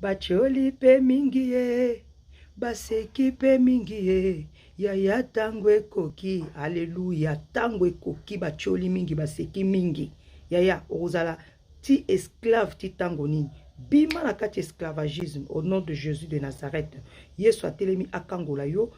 Batioli pe mingi ye, baseki pe mingi ye, yaya tango ekoki, alleluia, tango ekoki, batioli mingi, baseki mingi, yaya okozala ti esclave ti tango nini? Bima na kati esclavagisme au nom de Jesus de Nazareth. Yesu atelemi akangola yo,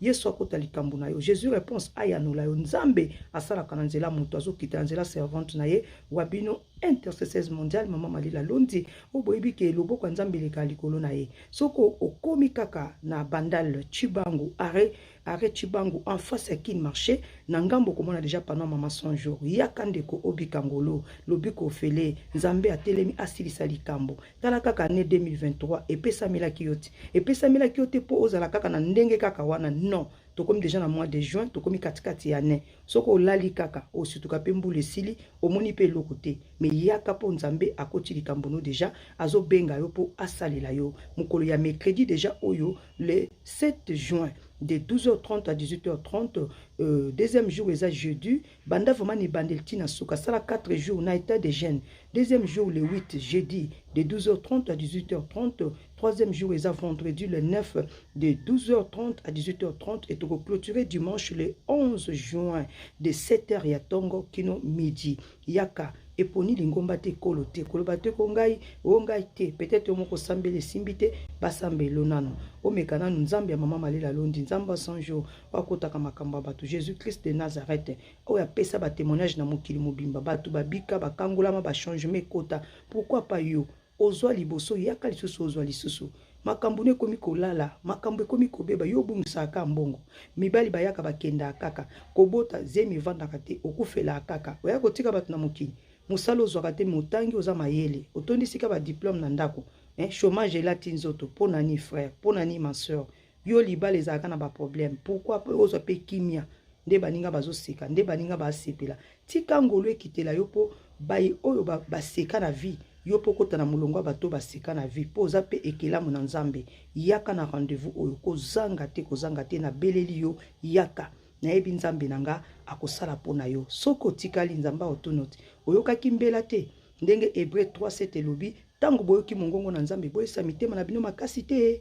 Yesu akota likambo na yo. Jesus reponse ayanola yo. Nzambe asalaka na nzela moto azokita na nzela servante na ye wa bino intercesseurs mondiale mama Malila Londi oyo boyebi ke loboko ya Nzambe eleka likolo na ye. Soko okomi kaka na bandal Chibangu arrêt arrêt Chibangu en face ya Kin marché na ngambo komona deja pano mama 100 jours. Yaka ndeko obika ngolo lobiko ofele Nzambe atelemi asilisa likambo. tala kaka année 2023 epesamelaki yo te epesamelaki yo te mpo ozala kaka na ndenge kaka wana non tokomi deja na mois de juin tokomi katikati ya année soki olali kaka osutuka mpe mbula esili omoni mpe eloko te me yaka mpo nzambe akoti likambo no deja azobenga yo mpo asalela yo mokolo ya mercredi deja oyo le 7 juin de 12h30 à 18h30 euh, deuxième jour eza jeudi banda vraiment na ebandeli ti na suka sala 4 jours na état de jeune deuxième jour le 8 jeudi de 12h30 à 18h30 troisième jour eza vendredi le 9 de 12h30 à 18h30 et toko clôturer dimanche le 11 juin de 7h ya tongo kino midi yaka eponi lingomba te ekolo te koloba te ko ngai o ngai te peut-être yo moko sambeli esimbi te basambelo nano omeka nano nzambe ya mama malela londi nzambe ya 100 jours bakotaka makambo ya bato jésus christ de nazareth oyo apesa batémoignage na mokili mobimba bato babika bakangolama bachangement ekota pourkui pa yo ozwa liboso yaka lisusu ozwa lisusu makambo no ekomi kolala makambo ekomi kobeba yo obungisaka kaka mbongo mibali bayaka bakendaka kaka kobota zemi evandaka te okufelaka kaka oya kotika bato na mokili mosala ozwaka te motangi oza mayele otondisika badiplome na ndako eh, chômage elati nzoto mpo na nini frère mpo na nini ma soeur yo libala ezalaka na baproblème pourquoi mpe ozwa mpe kimia nde baninga bazoseka nde baninga basepela tika ngolu ekitela yo mpo baye oyo baseka na vie yo mpo okota na molongo ya bato baseka na vie mpo oza mpe ekelamu na nzambe yaka na rendez-vous oyo kozanga te kozanga te nabeleli yo yaka nayebi nzambe na nga akosala mpo na yo soki otikali nzambe aotuno te oyokaki mbela te ndenge hebreu 3 7 elobi ntango boyoki mongongo na nzambe boyesa mitema na bino makasi te